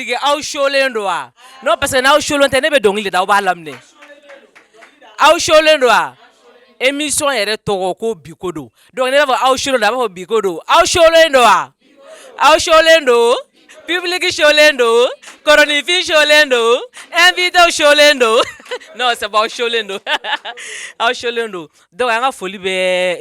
public aw sholen don wa non parce que n'aw sholen tɛ ne bɛ dɔnkili da aw b'a laminɛ aw sholen don wa émission yɛrɛ tɔgɔ ko bi ko don donc ne b'a fɔ aw sholen don a b'a fɔ bi ko don aw sholen don wa aw sholen don public sholen don kinfin sholen don invité sholen don non ça va aw sholen don aw sholen don donc an ka foli bɛ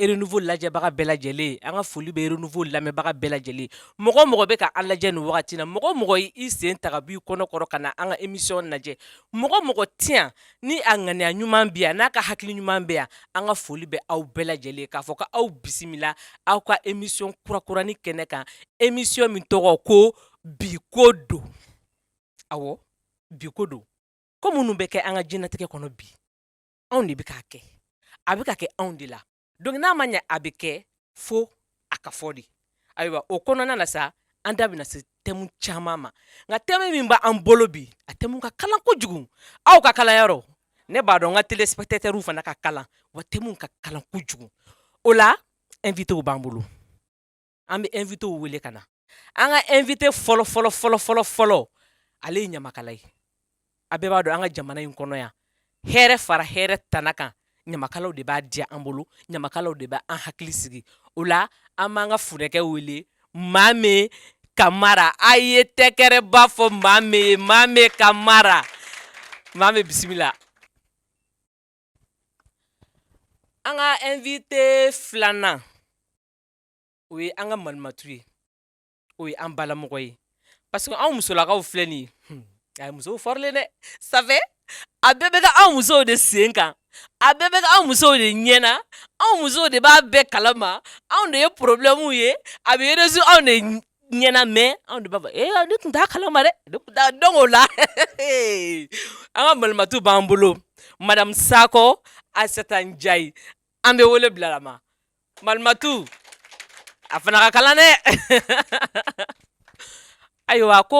Renouveau lajɛbaga bɛɛ lajɛlen an ka foli bɛ Renouveau lamɛnbaga bɛɛ lajɛlen mɔgɔ mɔgɔ bɛ ka an lajɛ nin wagati na mɔgɔ mɔgɔ y'i sen ta b'i kɔnɔkɔrɔ ka na an ka émission lajɛ mɔgɔ mɔgɔ tɛ ni a ŋaniya ɲuman bɛ yan n'a ka hakili ɲuman bɛ yan an ka foli bɛ aw bɛɛ lajɛlen k'a fɔ ko aw bisimila aw ka émission kurakuranin kɛnɛ kan émission min tɔgɔ ko bi ko don awɔ bi ko don ko minnu bɛ kɛ an ka diɲɛnatigɛ kɔnɔ bi anw de bɛ k'a kɛ a bɛ ka kɛ anw de la donc n'a ma ɲɛ a bɛ kɛ fo a ka fɔ de ayiwa o kɔnɔna na sa an da bɛna se tɛmu caman ma nka tɛmu min b'an bolo bi a tɛmu ka kalan kojugu aw ka kalan yɔrɔ ne b'a dɔn n ka téléspectateurw fana ka kalan wa tɛmu ka kalan kojugu o la invitéw b'an bolo an bɛ invitéw wele ka na an ka invité fɔlɔ fɔlɔ ale ye ɲamakala ye a bɛɛ b'a dɔn an ka jamana in kɔnɔ yan hɛrɛ fara hɛrɛ tana kan ɲamakalaw de b'a diya an bolo ɲamakalaw de bɛ an hakili sigi o la an b'an ka funɛkɛ wele Mame Kamara a ye tɛkɛrɛba fɔ Mame ye Mame Kamara Mame bisimila an ka invité filanan o ye an ka malimatu ye o ye an balamɔgɔ ye parce que anw musolakaw filɛ nin ye hmm, a ye musow fɔrilen dɛ ça fait a bɛɛ bɛ kɛ anw musow de sen kan a bɛɛ bɛ anw musow de ɲɛ na anw musow de b'a bɛɛ kalama anw de ye porobilɛmu ye a bɛ résoudre anw de ɲɛna mais anw de b'a fɔ ee ne tun t'a kalama dɛ ne tun t'a dɔn o la an ka malimatu b'an bolo madamu Sakɔ Asɛta Njayi an bɛ wele bilalama Malimatu a fana ka kalan dɛ ayiwa ko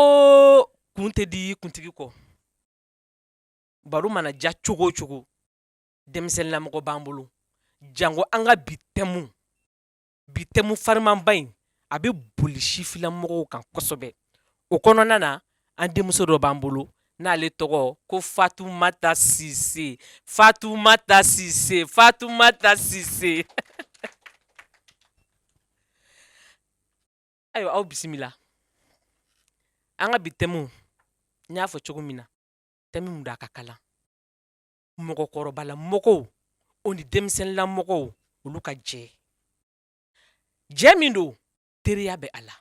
kun tɛ di kuntigi kɔ baro mana diya cogo o cogo denmisɛnninlamɔgɔ b'an bolo jango an ka bi tɛmu bi tɛmu farimanba in a bɛ boli sifilamɔgɔw kan kosɛbɛ o kɔnɔna na an denmuso dɔ b'an bolo n'ale tɔgɔ ko fatumata sise fatumata sise fatumata sise ayiwa aw bisimila an ka bi thème n y'a fɔ cogo min na thème min don a ka kalan mɔgɔkɔrɔbalamɔgɔw o ni denmisɛnninlamɔgɔw olu ka jɛ jɛ min don teriya bɛ a la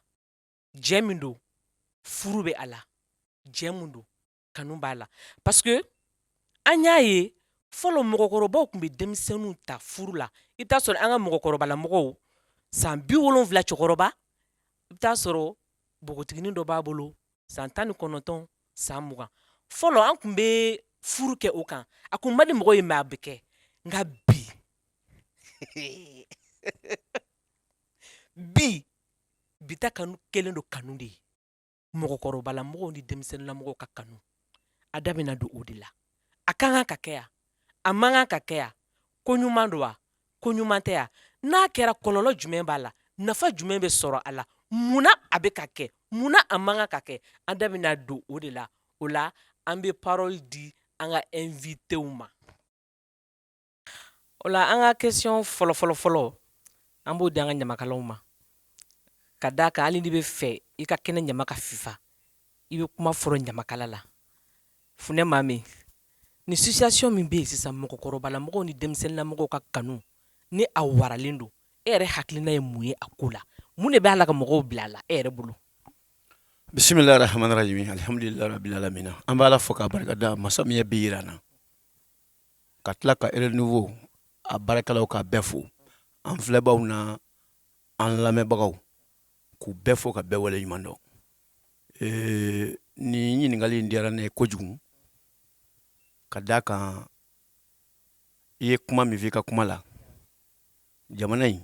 jɛ min don furu bɛ a la jɛ min don kanu b'a la parce que an y'a ye fɔlɔ mɔgɔkɔrɔbaw tun bɛ denmisɛnninw ta furu la i bɛ t'a sɔrɔ an ka mɔgɔkɔrɔbalamɔgɔw san bi wolonwula cɛkɔrɔba i bɛ t'a sɔrɔ bogotiginin dɔ b'a bolo san tan ni kɔnɔntɔn san mugan fɔlɔ an tun bɛ furu kɛ o kan a kun man di mɔgɔ ye mais a bɛ kɛ nka bi bi bi ta kanu kelen don kanu de ye mɔgɔkɔrɔbalamɔgɔw ni denmisɛnninlamɔgɔw ka kanu an da bɛna don o de la a ka kan ka kɛ wa a man kan ka kɛ wa ko ɲuman don wa ko ɲuman tɛ wa n'a kɛra kɔlɔlɔ jumɛn b'a la nafa jumɛn bɛ sɔrɔ a la munna a bɛ ka kɛ munna a man kan ka kɛ an da bɛna don o de la o la an bɛ parɔli di an ka invitéw ma O la an ka question fɔlɔfɔlɔ fɔlɔ an b'o di an ka ɲamakalaw ma ka da a kan hali n'i bɛ fɛ i ka kɛnɛ ɲama ka fifa i bɛ kuma fɔlɔ ɲamakala la funɛ mame nin situation min bɛ yen sisan mɔgɔkɔrɔbalamɔgɔw ni denmisɛnninlamɔgɔw ka kanu ni a waralen don e yɛrɛ hakilina ye mun ye a ko la mun de b'a la ka mɔgɔw bila a la e yɛrɛ bolo bisimilahi rahmani rahim alihamdulilahi rabil alamina an b'ala fo k'a barika da masa min ye bi jira an na ka tila ka renouveau a baarakɛlaw k'a bɛɛ fo an filɛbaw n'an lamɛnbagaw k'u bɛɛ fo ka bɛɛ wale ɲuman dɔn nin ɲininkali in diyara ne ye kojugu ka d'a kan i ye kuma min fɔ i ka kuma la jamana in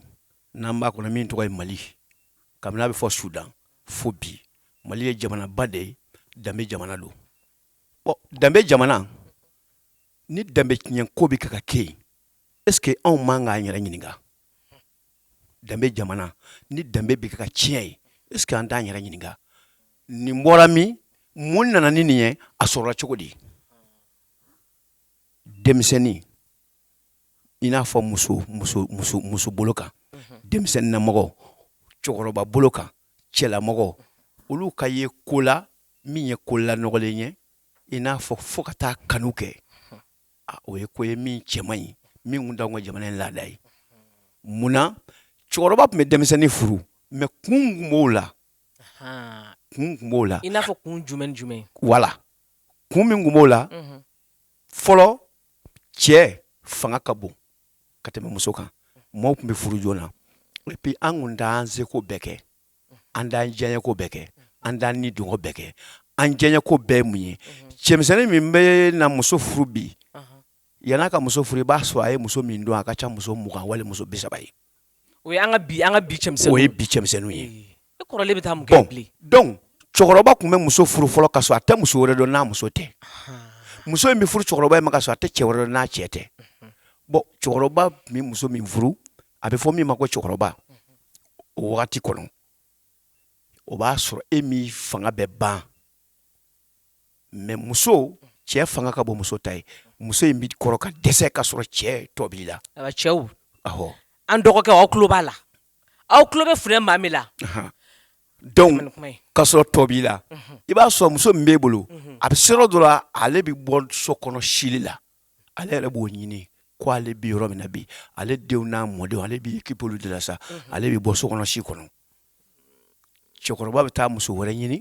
n'an b'a kɔnɔ min tɔgɔ ye mali kabini a bɛ fɔ sudan fo bi mali ye jamanaba de ye danbe jamana don ɔ danbe jamana ni danbe tiɲɛ ko bɛ kan ka kɛ yen est ce que anw man k'an yɛrɛ ɲininka danbe jamana ni danbe bɛ kan ka tiɲɛ yen est ce que an t'an yɛrɛ ɲininka nin bɔra min mun nana ni nin ye a sɔrɔla cogo di denmisɛnnin i n'a fɔ muso muso muso muso bolo kan denmisɛnninnamɔgɔ cɛkɔrɔba bolo kan cɛlamɔgɔ olu ka ye ko la min ye ko la nɔgɔlen ye i n'a fɔ fo ka taa kanu kɛ o ye ko ye min cɛ man ɲi min tun t'an ka jamana in laada ye mun na cɛkɔrɔba tun bɛ denmisɛnnin furu mɛ kun tun b'o la kun tun b'o la i n'a fɔ kun jumɛn jumɛn wala kun min tun b'o la fɔlɔ cɛ fanga ka bon ka tɛmɛ muso kan maaw tun bɛ furu joona epi an kun t'an seko bɛɛ kɛ an t'an diyanyeko bɛɛ kɛ an t'an nidungɔ bɛɛ kɛ an diyanyeko bɛɛ mun ye cɛmisɛnnin min bɛ na muso furu bi yann'a ka muso furu i b'a sɔrɔ a ye muso min dɔn a ka ca muso mugan wali muso bi saba ye o ye an ka bi an ka bi cɛmisɛnninw o ye bi cɛmisɛnninw ye e kɔrɔlen bɛ taa mun kɛ bilen donc cɛkɔrɔba tun bɛ muso furu fɔlɔ ka sɔrɔ a tɛ muso wɛrɛ dɔn n'a muso tɛ muso in bɛ furu cɛkɔrɔba in ma ka sɔrɔ a tɛ cɛ wɛrɛ dɔn n'a cɛ tɛ bon cɛkɔrɔba tun bɛ muso min furu a bɛ fɔ min ma ko cɛkɔrɔba o wagati kɔnɔ o b'a sɔrɔ e min fanga bɛ ban mɛ muso cɛ fanga ka bon muso ta ye muso in bɛ kɔrɔ ka dɛsɛ ka sɔrɔ cɛ tɔ b'i la cɛw an dɔgɔkɛ aw tulo b'a la aw tulo bɛ filɛ maa min la donc ka sɔrɔ tɔ b'i la i b'a sɔrɔ muso min b'e bolo a bɛ se yɔrɔ dɔ la ale bɛ bɔ so kɔnɔ sili la ale yɛrɛ b'o ɲini ko ale bɛ yɔrɔ min na bi ale denw n'a mɔdenw ale b'i okipe olu de la sa ale bɛ bɔ so kɔnɔ si kɔnɔ cɛkɔrɔba bɛ taa muso wɛrɛ ɲini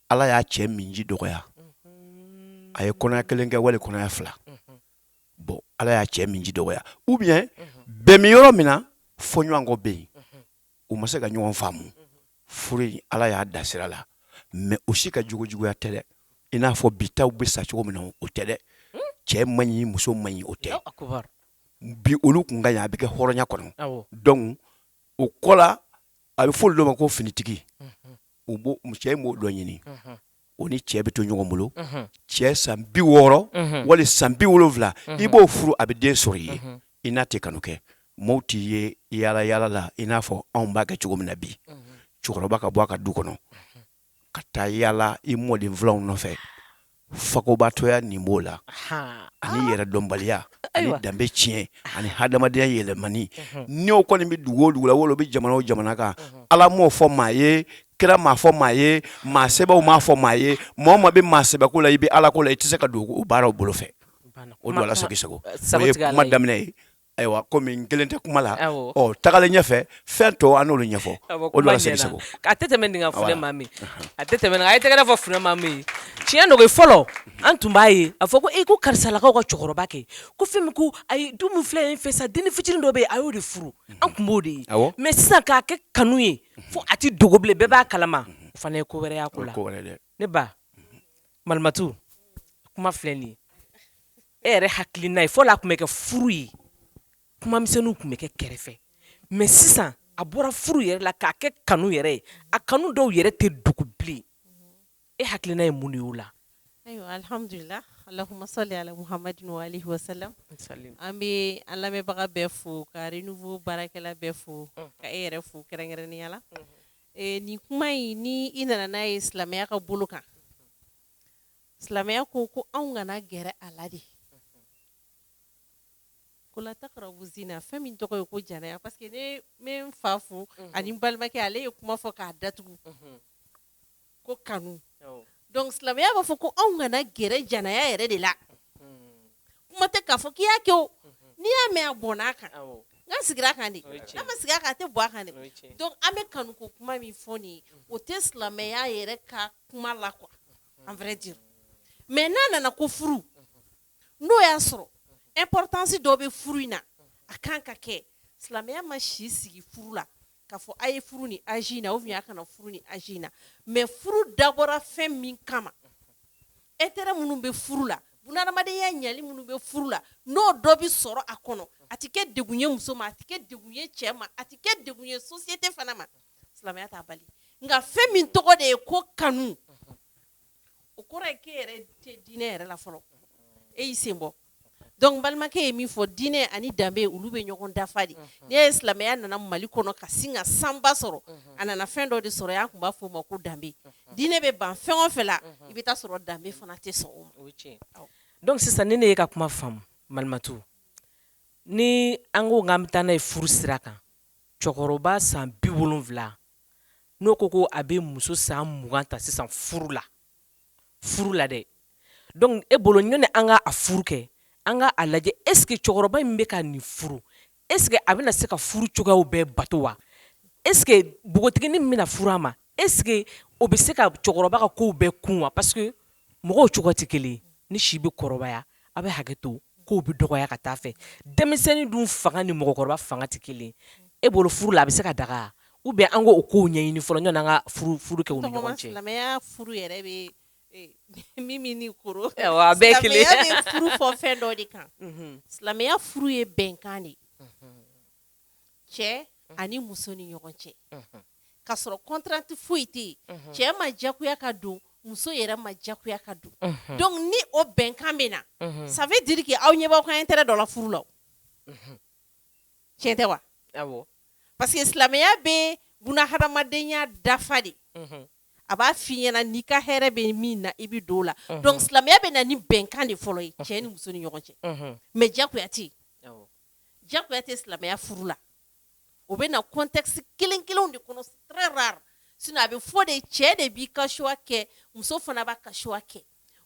ala y'a cɛ minji dɔgɔya a ye kɔnɔya kelen kɛ wali kɔnɔya fila bon ala y'a cɛ minji dɔgɔya ou bien bɛn min yɔrɔ min na fɔɲɔgɔnkɔ bɛ yen u ma se ka ɲɔgɔn faamu furu in ala y'a da sira la mɛ u si ka juguya tɛ dɛ i n'a fɔ bi taw bɛ sa cogo min na o tɛ dɛ cɛ man ɲi muso man ɲi o tɛ bi olu tun ka a bɛ kɛ hɔrɔnya kɔnɔ dɔnku o kɔ la a bɛ fɔ olu dɔ ma ko finitigi u b'o m cɛ in b'o dɔ ɲini unhun o ni cɛ bɛ to ɲɔgɔn bolo unhun cɛ san 60 unhun wali san 70 unhun i b'o furu a bɛ den sɔr'i ye unhun i n'a tɛ kanu kɛ mɔɔw t'i ye yaala-yaala la i n'a fɔ anw b'a kɛ cogo min na bi unhun cɛkɔrɔba ka bɔ a ka du kɔnɔ unhun ka taa yaala i mɔden filanw nɔfɛ fakobatɔya nin b'o la ani yɛrɛdɔnbaliya ani danbe tiɲɛ ani hadamadenya yɛlɛmani n'o kɔni bɛ dugu o dugu la wala o bɛ jamana o jamana kan ala m'o fɔ maa ye kira m'a fɔ maa ye maa sɛbɛw m'a fɔ maa ye maa o maa bɛ maa sɛbɛko la i bɛ ala ko la i tɛ se ka don o baaraw bolo fɛ o don ala sago sabu ma daminɛ ye Ayiwa kɔmi n kelen tɛ kuma la tagalen ɲɛfɛ fɛn tɔ an n'olu ɲɛfɔ a tɛ tɛmɛ nin kan funɛ maa min a tɛ tɛmɛ nin kan a ye tɛgɛrɛ fɔ funɛ maa min tiɲɛ don fɔlɔ an tun b'a ye a fɔ ko e ko karisalakaw ka cɛkɔrɔba kɛ ko fɛn ko a ye du fila in fɛ sa den fitinin dɔ bɛ yen a y'o de furu an tun b'o de ye mais sisan k'a kɛ kanu ye fo a tɛ dogo bilen bɛɛ b'a kalama o fana ye ko wɛrɛ y'a ko la ne ba Malimatu kuma filɛ nin ye e yɛrɛ hakilina ye fɔlɔ a tun bɛ kɛ furu ye kumamisɛnninw tun bɛ kɛ kɛrɛfɛ mais sisan a bɔra furu yɛrɛ la k'a kɛ kanu yɛrɛ ye a kanu dɔw yɛrɛ tɛ dogo bilen e hakilina ye mun de y'o la ayiwa alhamdulillah allahumma salli ala muhammadin wa alihi wa sallam an bɛ an lamɛnbaga bɛɛ fo ka renouveau baarakɛla bɛɛ fo ka e yɛrɛ fo kɛrɛnkɛrɛnnenya la Nin kuma in ni i nana n'a ye silamɛya ka bolo kan silamɛya ko ko anw kana gɛrɛ a la de ko la taqrabu zina fɛn min tɔgɔ ye ko jɛnɛya parce que ne n fa fo ani n balimakɛ ale ye kuma fɔ k'a datugu ko kanu donc silamɛya b'a fɔ ko anw kana gɛrɛ jɛnɛya yɛrɛ de la kuma tɛ k'a fɔ k'i y'a kɛ o n'i y'a mɛn a bɔnn'a kan a sigira a kan de n'a ma sigi a kan a tɛ bɔn a kan dɛ an bɛ kanu ko kuma min fɔ nin ye o tɛ silamɛya yɛrɛ ka kuma la quoi en vrai dire mais n'a nana ko furu n'o y'a sɔrɔ importance dɔ bɛ furu in na a kan ka kɛ silamɛya ma si sigi furu la K'a fɔ a ye furu ni âge in na ou bien a kana furu ni âge in na mais furu dabɔra fɛn min kama intérêt minnu bɛ furu la bunadamadenya ɲɛli minnu bɛ furu la n'o dɔ bɛ sɔrɔ a kɔnɔ a tɛ kɛ degun ye muso ma a tɛ kɛ degun ye cɛ ma a tɛ kɛ degun ye société fana ma silamɛya t'a bali nka fɛn min tɔgɔ de ye ko kanu o kɔrɔ ye k'e yɛrɛ tɛ diinɛ yɛrɛ la fɔlɔ e y'i senbɔ donc balimakɛ ye min fɔ diinɛ ani danbe olu bɛ ɲɔgɔn dafa de n'i ye silamɛya nana mali kɔnɔ ka sin ka sanba sɔrɔ a nana fɛn dɔ de sɔrɔ yan a tun b'a fɔ o ma ko danbe diinɛ bɛ ban fɛn o fɛn la i bɛ taa sɔrɔ danbe fana tɛ sɔn donc sisan ni ne ye ka kuma faamu malimatu ni an ko k'an bɛ taa n'a ye furu sira kan cɛkɔrɔba san bi wolonwula n'o ko ko a bɛ muso san mugan ta sisan furu la furu la dɛ donc e bolo ɲɔni an ka a furu kɛ an ka a lajɛ est ce que cɛkɔrɔba in bɛ ka nin furu est ce que a bɛna se ka furu cogoyaw bɛɛ bato wa est ce que npogotiginin min bɛna furu a ma est ce que o bɛ se ka cɛkɔrɔba ka kow bɛɛ kun wa parce que mɔgɔw cogo tɛ kelen ye ni si bɛ kɔrɔbaya a bɛ hakɛ to kow bɛ dɔgɔya ka taa fɛ denmisɛnnin dun fanga ni mɔgɔkɔrɔba fanga tɛ kelen e bolo furu la a bɛ se ka daga ou bien an k'o kow ɲɛɲini fɔlɔ yanni an ka furu kɛ u ni ɲɔgɔn cɛ silamɛya furu yɛrɛ bɛ min min ni koro a bɛɛ kelen silamɛya bɛ furu fɔ fɛn dɔ de kan silamɛya furu ye bɛnkan de cɛ ani muso ni ɲɔgɔn cɛ k'a sɔrɔ contrainte foyi tɛ yen cɛ ma jagoya ka don muso yɛrɛ ma jagoya ka don donc ni o bɛnkan bɛ na ça veut dire que aw ɲɛ b'aw ka intérêt dɔ la furu la tiɲɛ tɛ wa parce que silamɛya bɛ bunahadamadenya dafa de a b'a f'i ɲɛna n'i ka hɛrɛ bɛ min na i bɛ don o la donc silamɛya bɛ na ni bɛnkan de fɔlɔ ye cɛ ni muso ni ɲɔgɔn cɛ mais jagoya tɛ jagoya tɛ silamɛya furu la o bɛ na contexte kelen kelenw de kɔnɔ très rare sinon a bɛ fɔ de cɛ de b'i ka choix kɛ muso fana b'a ka choix kɛ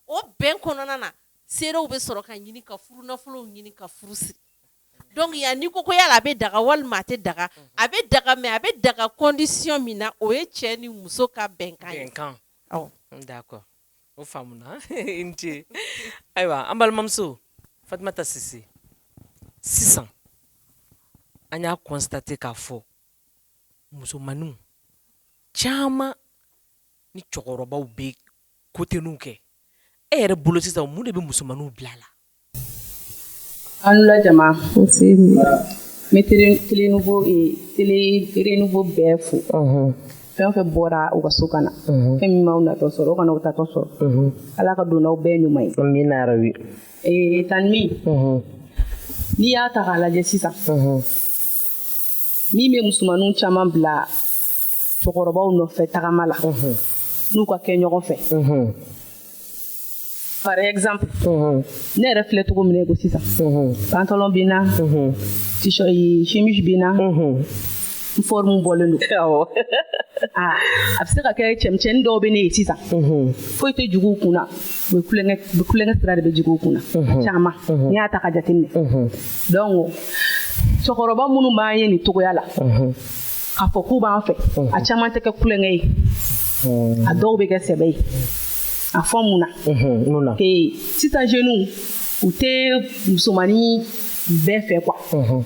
o bɛn kɔnɔna na seerew bɛ sɔrɔ ka ɲini ka furu nafolow ɲini ka furu siri donc ya n'i ko ko yala a bɛ daga walima a tɛ daga a bɛ daga mais a bɛ daga condition min na o ye cɛ ni muso ka bɛnkan o faamuna i ni ce ayiwa an balimamuso fatumata sise sisan an y'a constater k'a fɔ musomaninw caman ni cɛkɔrɔbaw bɛ koteniw kɛ e yɛrɛ bolo sisan mun de bɛ musomaninw bila a la Aw ni wula jama, nse, n bɛ tele tele nouveau ee tele tele nouveau bɛɛ fo, unhun, fɛn o fɛn bɔra u ka so ka na, unhun, fɛn min m'aw natɔ sɔrɔ o kana aw taatɔ sɔrɔ, unhun, Ala ka don n'aw bɛɛ ɲuman ye, amina yarabi, ee tani min, unhun, n'i y'a ta k'a lajɛ sisan, unhun, min bɛ musomaninw caman bila cɛkɔrɔbaw nɔfɛ tagama la, unhun, n'u ka kɛ ɲɔgɔn fɛ, unhun. par exemple ne yɛrɛ filɛ cogo min na ko sisan pantalon bɛ n na chemise bɛ n na n forme bɔlen don awɔ ah, a bɛ se ka kɛ cɛmisɛnnin dɔw bɛ ne ye sisan foyi tɛ jigin u kun na u bɛ kulonkɛ u bɛ kulonkɛ sira de bɛ jigin u kun na caman n'i y'a ta ka jateminɛ donc cɛkɔrɔba minnu b'an ye nin cogoya la k'a fɔ k'u b'an fɛ a caman tɛ kɛ kulonkɛ ye a dɔw bɛ kɛ sɛbɛ ye a fɔ mun na sisan jeunes u tɛ musomanin bɛɛ fɛ quoi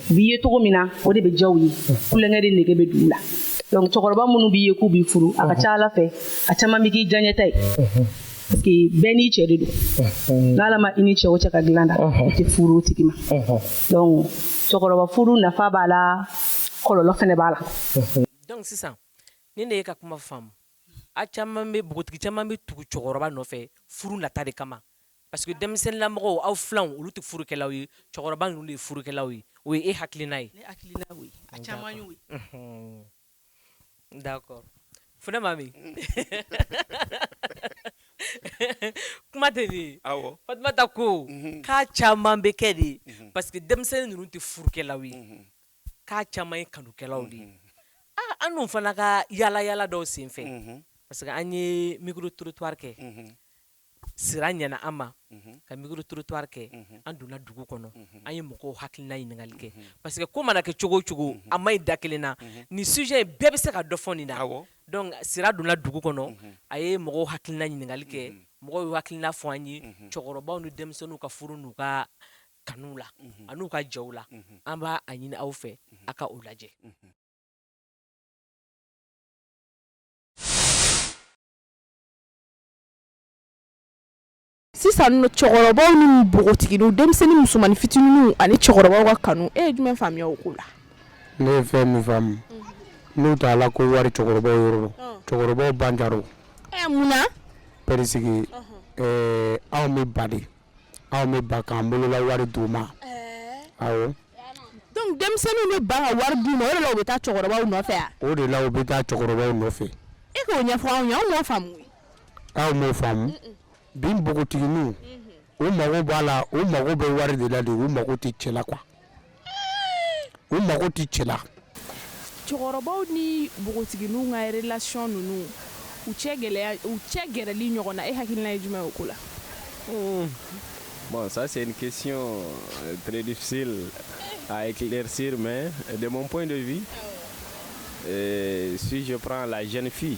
u b'i ye cogo min na o de bɛ diya u ye kulonkɛ de nege bɛ don u la donc cɛkɔrɔba minnu b'i ye k'u b'i furu a ka ca ala fɛ a caman bɛ k'i diyaɲɛta ye bɛɛ n'i cɛ de don n'ala ma i ni cɛ o cɛ ka dilan da i tɛ furu o tigi ma donc cɛkɔrɔba furu nafa b'a la kɔlɔlɔ fɛnɛ b'a la donc sisan ni ne ye ka kuma faamu a caman bɛ npogotigi caman bɛ tugu cɛkɔrɔba nɔfɛ furu nata de kama parce que denmisɛnninlamɔgɔw aw filanw olu tɛ furukɛlaw ye cɛkɔrɔba ninnu de ye furukɛlaw ye o ye e hakilina ye a caman y'o ye D'accord funɛ mami kuma tɛ nin ye fatumata ko k'a caman bɛ kɛ de parce que denmisɛnnin ninnu tɛ furukɛlaw ye k'a caman ye kanukɛlaw de ye an dun fana ka yaala yaala dɔw senfɛ parce que an ye micro trottoir kɛ. sira ɲɛna an ma ka micro trottoir kɛ an donna dugu kɔnɔ an ye mɔgɔw hakilina ɲininkali kɛ parce que ko mana kɛ cogo o cogo a man ɲi da kelen na nin sujet in bɛɛ bɛ se ka dɔ fɔ nin na donc sira donna dugu kɔnɔ a ye mɔgɔw hakilina ɲininkali kɛ mɔgɔw y'u hakilina fɔ an ye cɛkɔrɔbaw ni denmisɛnninw ka furu n'u ka kanuw la an'u ka jɛw la an b'a ɲini aw fɛ a ka o lajɛ sisan nɔ cɛkɔrɔbaw ni npogotigininw denmisɛnnin musomannin fitininw ani cɛkɔrɔbaw ka kanu e ye jumɛn faamuya o ko la ne ye fɛn min faamu n'u t'a la ko wari cɛkɔrɔbaw yɔrɔ cɛkɔrɔbaw ban jaro ɛ mun na parce que ɛɛ anw bɛ ban de anw bɛ ban k'an bolola wari d'u ma awɔ donc denmisɛnninw bɛ ban ka wari d'u ma o de la u bɛ taa cɛkɔrɔbaw nɔfɛ wa o de la u bɛ taa cɛkɔrɔbaw nɔfɛ e k'o ɲɛfɔ anw ye anw m'o faamu Aw m'o faamu bi npogotigininw u mago b'a la u mago bɛ wari de la de u mago tɛ cɛ la quoi u mago tɛ cɛ la cɛkɔrɔbaw ni npogotigininw ka relation ninnu u cɛ gɛlɛya u cɛ gɛrɛli ɲɔgɔn na e hakilina ye jumɛn ye o ko la Bon, ça c'est une question euh, très difficile à éclaircir, mais de mon point de vue, euh, si je prends la jeune fille,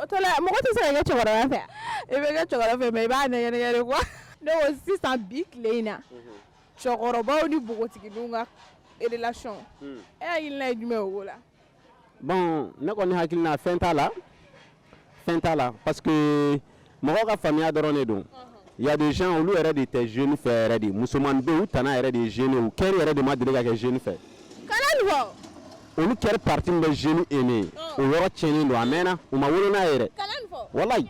O tɔ la mɔgɔ tɛ se ka kɛ cɛkɔrɔba fɛ i bɛ kɛ cɛkɔrɔba fɛ mais i b'a nɛgɛn de quoi ne ko sisan bi tile in na cɛkɔrɔbaw ni npogotigininw ka relation e hakilina ye jumɛn ye o ko la bon ne kɔni hakilina fɛn t'a la fɛn t'a la mɔgɔ ka faamuya dɔrɔn de don il y a des gens olu yɛrɛ de tɛ jeune fɛ yɛrɛ de musoman u tana yɛrɛ de ye jeune u cœur yɛrɛ de ma deli ka kɛ jeune fɛ olu cœur partie min bɛ jeune aimer o yɔrɔ cɛlen don a mɛnna u ma wolo n'a ye yɛrɛ walayi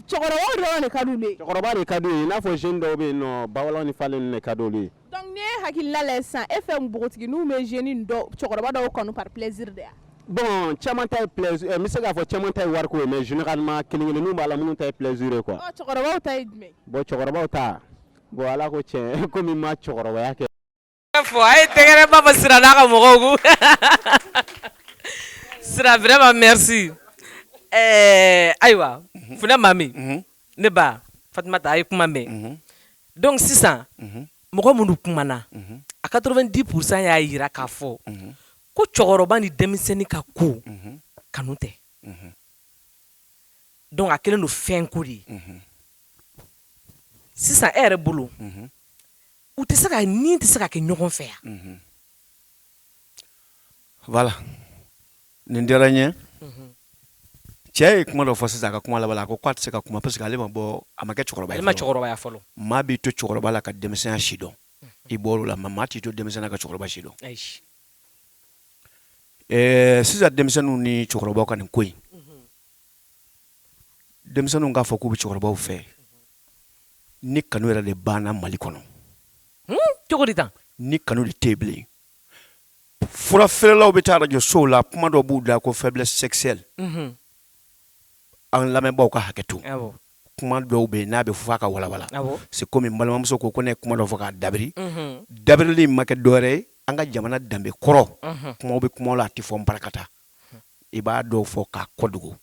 cɛkɔrɔba de ka d'u ye i n'a fɔ jeune dɔw bɛ yen ba ni falen ka ye Donc n'i ye hakilila lajɛ sisan e fɛ npogotigininw bɛ jeune dɔw cɛkɔrɔba dɔw kanu par plaisir de wa? Bon caman ta ye plaisir n bɛ se k'a fɔ caman ta ye wariko ye mais généralement kelen kelenninw b'a la minnu ta ye plaisir ye quoi. Ɔ cɛkɔrɔbaw ta ye jumɛn ye? Bon cɛkɔrɔbaw ta bon Ala ko tiɲɛ komi n ma cɛkɔrɔbaya kɛ fɔlɔ a ye tɛgɛrɛba fɔ Sira n'a ka mɔgɔw kun Sira vraiment merci ɛɛ ayiwa funɛ Maami ne ba fatumata a ye kuma mɛn donc sisan mɔgɔ minnu kumana a quatre-vingt-dix pour cent y'a yira k'a fɔ ko cɛkɔrɔba ni denmisɛnnin ka ko kanu tɛ donc a kɛlen don fɛn ko de ye sisan e yɛrɛ bolo u tɛ se ka nin tɛ se ka kɛ ɲɔgɔn fɛ yan Voilà nin diyara n ye cɛ ye kuma dɔ fɔ sisan a ka kuma laban na ko a tɛ se ka kuma parce que ale ma bɔ a ma kɛ cɛkɔrɔba ye a ma cɛkɔrɔbaya fɔlɔ maa b'i to cɛkɔrɔba la ka denmisɛnya si dɔn i bɔr'o la maa t'i to denmisɛnya ka cɛkɔrɔba si dɔn sisan denmisɛnninw ni cɛkɔrɔbaw ka nin ko in denmisɛnninw k'a fɔ k'u bɛ cɛkɔrɔbaw fɛ ni kanu yɛrɛ de banna mali kɔnɔ cogo di tan ni kanu de tɛ yen bilen fura feerelaw bɛ taa arajo sow la kuma dɔ b'u da la ko faiblesse sexuelle unhun, an lamɛnbaaw ka hakɛ to awɔ, kuma dɔw bɛ yen n'a bɛ fɔ a ka walawala awɔ, c'est comme n balimamuso ko ko ne ye kuma dɔ fɔ k'a dabiri unhun, dabirili in ma kɛ dɔwɛrɛ ye an ka jamana danbe kɔrɔ unhun, kumaw bɛ kumaw la a tɛ fɔ nparakata i b'a dɔw fɔ k'a kɔdogo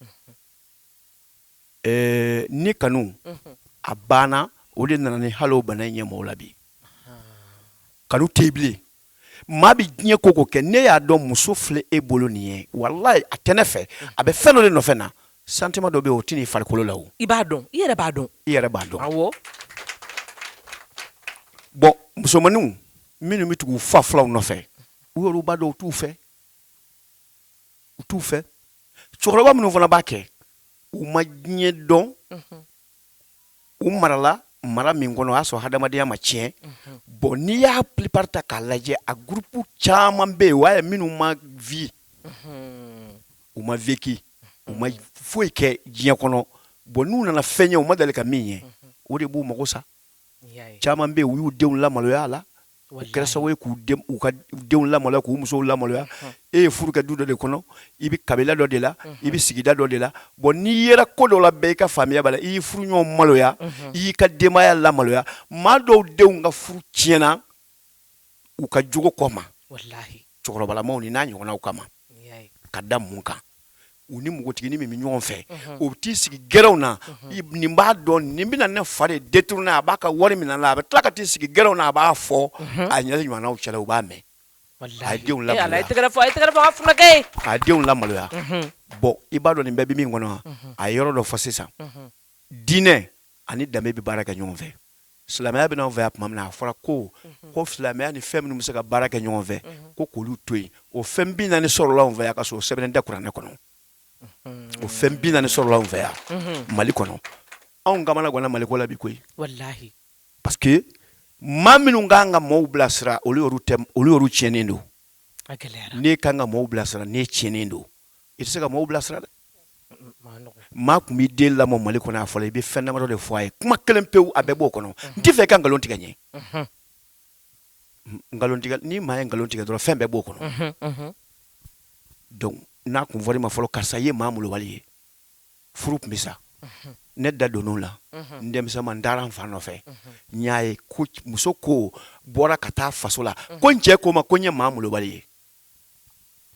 Ɛɛ ni kanu a banna o de nana ni hali bana in ye maaw la bi kanu tɛ bilen maa bɛ diɲɛ ko ko kɛ ne y'a dɔn muso filɛ e bolo nin ye walayi a tɛ ne fɛ a bɛ fɛn dɔ de nɔfɛ na sentiment dɔ bɛ yen o t'i farikolo la i b'a dɔn i yɛrɛ b'a dɔn i yɛrɛ b'a dɔn awɔ bon musomanninw minnu bɛ tugu u fa fulanw nɔfɛ u b'a dɔn u t'u fɛ u t'u fɛ cɛkɔrɔba minnu fana b'a kɛ u ma diɲɛ dɔn u marala mara min kɔnɔ o y'a sɔrɔ hadamadenya ma tiɲɛ bon n'i y'a plupart ta k'a lajɛ a groupe caman bɛ yen o ye minnu ma vie u ma vécu u ma foyi kɛ diɲɛ kɔnɔ bon n'u nana fɛn ye u ma deli ka min ye o de b'u mago sa caman bɛ yen u y'u denw lamaloya a la u kɛra sababu ye k'u ka denw lamaloya k'u musow lamaloya e ye furu kɛ du dɔ de kɔnɔ i bɛ kabila dɔ de la i bɛ sigida dɔ de la bon n'i yera ko dɔ la bɛɛ i ka famille b'a la i y'i furu ɲɔgɔn maloya i y'i ka denbaya lamaloya maa dɔw denw ka furu tiɲɛna u ka jogo kama cɛkɔrɔbalamaw nin n'a ɲɔgɔnnaw kama ka da mun kan u ni npogotiginin min bɛ ɲɔgɔn fɛ o bɛ t'i sigi gɛrɛnw na nin b'a dɔn nin bɛna ne fa de détourner a b'a ka wari minɛ a la a bɛ tila ka t'i sigi gɛrɛnw na a b'a fɔ a jɛɲɔgɔnw cɛla u b'a mɛn a denw la a denw lamaloya bon i b'a dɔn nin bɛɛ bɛ min kɔnɔ a ye yɔrɔ dɔ fɔ sisan diinɛ ani danbe bɛ baara kɛ ɲɔgɔn fɛ Silamɛya bɛ na an fɛ yan tuma min na a fɔra ko ko silamɛya ni fɛn minnu bɛ se ka baara kɛ ɲɔgɔn fɛ ko k'olu to yen o fɛn bi naani sɔrɔla an fɛ yan ka sɔrɔ o sɛbɛnnen tɛ kuranɛ kɔnɔ o fɛn bi naani sɔrɔla an fɛ yan mali kɔnɔ anw kamanaganna mali ko la bi koyi parce que maa minnu ka kan ka maaw bilasira olu olu tiɲɛnen don n'i ka kan ka maaw bilasira n'i tiɲɛnen don i tɛ se ka maaw bilasira dɛ maa kun b'i den lamɔ mali kɔnɔ a fɔlɔ i bɛ fɛn damadɔ de fɔ a ye kuma kelen pewu a bɛɛ b'o kɔnɔ n t'a fɛ i ka nkalon tigɛ n ye nkalon ni maa ye nkalon tigɛ dɔrɔn fɛn bɛɛ b'o kɔnɔ donc n'a kun fɔra i ma fɔlɔ karisa i ye maa malobali ye furu tun bɛ sa ne da donn'o la n denmisɛnman n taara n fa nɔfɛ n y'a ye ko muso ko bɔra ka taa faso la ko n cɛ ko n ma ko n ye maa malobali ye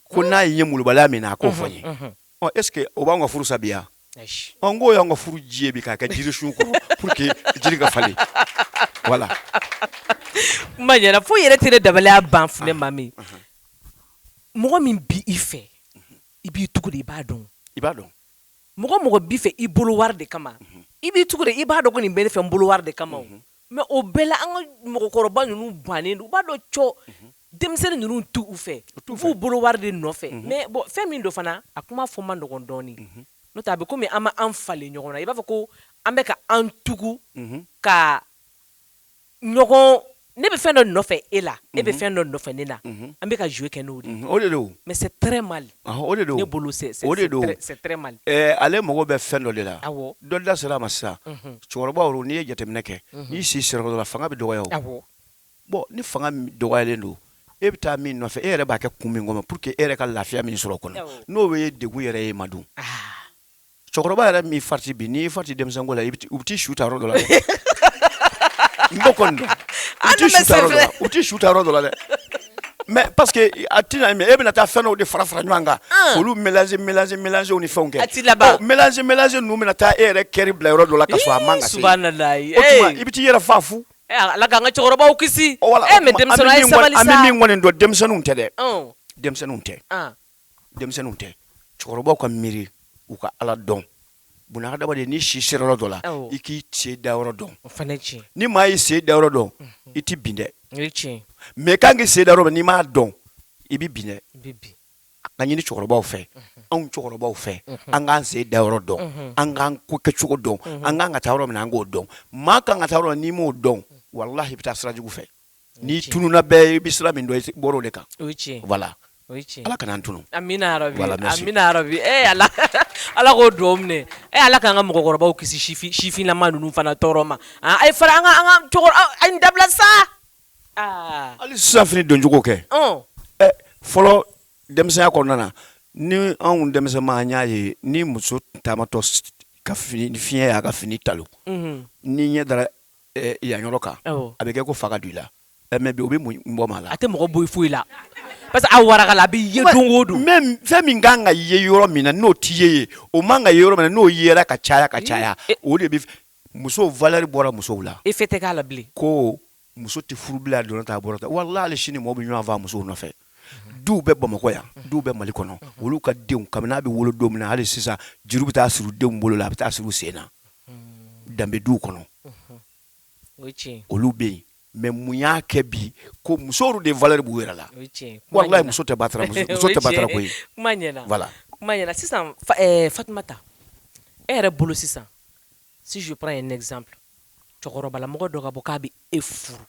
ko n'a ye n ye molobaliya min na a k'o fɔ n ye est ce que o b'an ka furu sa bi wa n k'o y'an ka furu ji ye bi k'a kɛ jirisun kɔrɔ pour que jiri ka falen voilà kuma ɲɛna foyi yɛrɛ tɛ ne dabaliya ban fo maa min mɔgɔ min bi i fɛ i b'i tugu de i b'a dɔn i b'a dɔn mɔgɔ mɔgɔ b'i fɛ i bolo wari de kama i b'i tugu de i b'a dɔn ko nin bɛ ne fɛ n bolo wari de kama o Mais o bɛɛ la an ka mɔgɔkɔrɔba ninnu bannen don u b'a dɔn cɔ denmisɛnnin ninnu t'u fɛ u b'u bolo wari de nɔfɛ mais bon fɛn min don fana a kuma fɔ man nɔgɔn dɔɔnin n'o tɛ a bɛ komi an ma an falen ɲɔgɔn na i b'a fɔ ko an bɛ ka an tugu ka ɲɔgɔn ne bɛ fɛn dɔ nɔfɛ e la e bɛ fɛn dɔ nɔfɛ ne na an bɛ ka jouer kɛ n'o de o de mais c'est très mal O de don bolo o de don ale mago bɛ fɛn dɔ de la dɔ da sera a ma sisan cɛkɔrɔbaw n'i ye jateminɛ kɛ n'i si sera dɔ la fanga bɛ dɔgɔya bon ni fanga dɔgɔyalen don e bɛ taa min nɔfɛ e yɛrɛ b'a kɛ kun min kama pour que e yɛrɛ ka lafiya min sɔrɔ o kɔnɔ n'o ye degun yɛrɛ ye i ma dun cɛkɔrɔba yɛrɛ min farati bi n'i farati denmisɛnko la u bɛ t'i su ta yɔrɔ dɔ la dɛ n b'o kɔni dɔn u t'i su ta yɔrɔ dɔ la dɛ mais parce que a ti e bɛna taa fɛnw de fara fara ɲɔgɔn kan olu mélangew ni fɛn kɛ mélange ninnu bɛna taa e yɛrɛ cœur bila yɔrɔ dɔ la ka sɔrɔ a man kan i bɛ taa i yɛrɛ fa fu ala k'an ka cɛkɔrɔbaw kisi an bɛ min kɔni dɔn denmisɛnninw tɛ dɛ denmisɛnninw tɛ denmisɛnninw tɛ cɛkɔrɔbaw ka miiri u ka ala dɔn bunadamaden n'i si sera yɔrɔ dɔ la i k'i sen da yɔrɔ dɔn ni maa y'i sen da yɔrɔ dɔn i tɛ bin dɛ mais k' k'i sen da yɔrɔ n'i m'a dɔn i bɛ bin an k'a ɲini cɛkɔrɔbaw fɛ anw cɛkɔrɔbaw fɛ an k'an sen da yɔrɔ dɔn an k'an ko kɛcogo dɔn an k'an ka taa yɔrɔ min an k'o dɔn maa ka kan ka taa yɔrɔ n'i m'o dɔn walahi i bɛ taa sira jugu fɛ n'i tununna bɛɛ i bɛ sira min dɔn i bɔra o de kan o ye tiɲɛ ye voilà o ye tiɲɛ ye Ala kan'an tunun amina yarabi voilà merci amina yarabi ee eh, Ala Ala k'o duwawu minɛ ee eh, Ala k'an ka mɔgɔkɔrɔbaw kisi sifin sifinlama ninnu fana tɔɔrɔ ma ah, a ye fara an ka an ka cɛkɔrɔba a ye nin dabila sa aa ah. hali sisan fini doncogo kɛ ɔn ɛ fɔlɔ denmisɛnya kɔnɔna na ni anw denmisɛnman an y'a ye ni muso taamatɔ ka fini fiɲɛ y'a ka fini talo mhm. n'i ɲɛ dara yan yɔrɔ kan a bɛ kɛ ko fa ka don i la mais bi o bɛ mun bɔ maa la a tɛ mɔgɔ bɔ foyi la parce que a warakala a bɛ ye don o don fɛn min ka kan ka ye yɔrɔ min na n'o tɛ ye yen o man kan ka ye yɔrɔ min na n'o yera ka caya ka caya o de bɛ muso valeur bɔra musow la e tɛ k'a la ko muso tɛ furu bilen a donna k'a ta a bɔra walahi hali sini mɔgɔw bɛ ɲɔgɔn faa musow nɔfɛ du bɛ bamakɔ yan du bɛ mali kɔnɔ olu ka denw kabini n'a bɛ wolo don min na hali sisan juru bɛ taa siri denw bolo la a bɛ taa siri sen na danbe du kɔnɔ olu bɛ yen mais mun y'a kɛ bi ko musow de valeur b'u yɛrɛ la walahi muso tɛ batara sisan Fatumata e yɛrɛ bolo sisan si je prends un exemple cɛkɔrɔbalamɔgɔ dɔ ka bɔ k'a bɛ e furu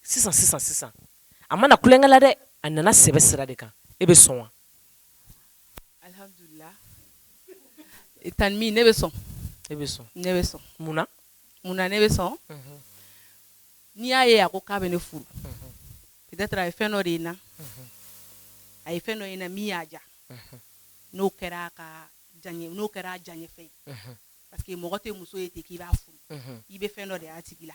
sisan sisan sisan a ma na tulonkɛ la dɛ a nana sɛbɛ sira de kan e bɛ sɔn wa alhamdulilah e tan min ne bɛ sɔn e bɛ sɔn ne bɛ sɔn mun na mun na ne bɛ sɔn mhm. n'i y'a ye a ko k'a bɛ ne furu mhm. peut-être a ye fɛn dɔ de ye n na mhm. a ye fɛn dɔ ye n na min y'a ja n'o kɛra a diyaɲɛ n'o kɛra a diyaɲɛfɛn ye parce que mɔgɔ tɛ muso ye ten k'i b'a furu i bɛ fɛn dɔ de y'a tigi la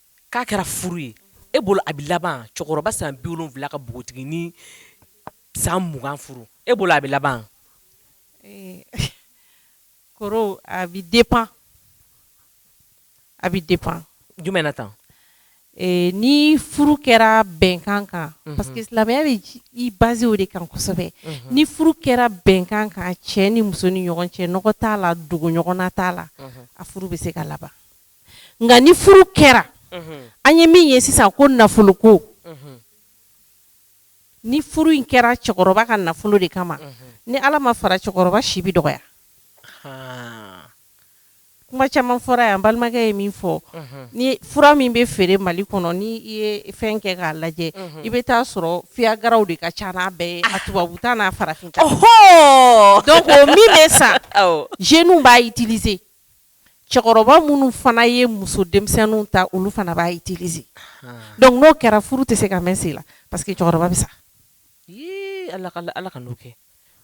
K'a kɛra furu ye e bolo a bɛ laban cɛkɔrɔba san bi wolonwula ka npogotiginin san mugan furu e bolo a bɛ laban Ee, koro a bɛ dépend a bɛ dépend jumɛn na tan ee, ni furu kɛra bɛnkan kan parce que silamɛya bɛ i baser o de kan kosɛbɛ ni furu kɛra bɛnkan kan cɛ ni muso ni ɲɔgɔn cɛ nɔgɔ t'a la dogoɲɔgɔnna t'a la a furu bɛ se ka laban nka ni furu kɛra an ye min ye sisan ko nafolo ko ni furu in kɛra cɛkɔrɔba ka nafolo de kama ni ala ma fara cɛkɔrɔba si bɛ dɔgɔya kuma caman fɔra yan balimakɛ ye min fɔ ni fura min bɛ feere mali kɔnɔ ni i ye fɛn kɛ k'a lajɛ i bɛ taa sɔrɔ viagraw de ka ca n'a bɛɛ ye a tubabu ta n'a farafin ta donc o min bɛ san jeunes b'a utiliser cɛkɔrɔba minnu fana ye muso denmisɛnninw ta olu fana b'a utiliser donc n'o kɛra furu tɛ se ka mɛɛn sen la parce que cɛkɔrɔba bɛ sa ala kan'o kɛ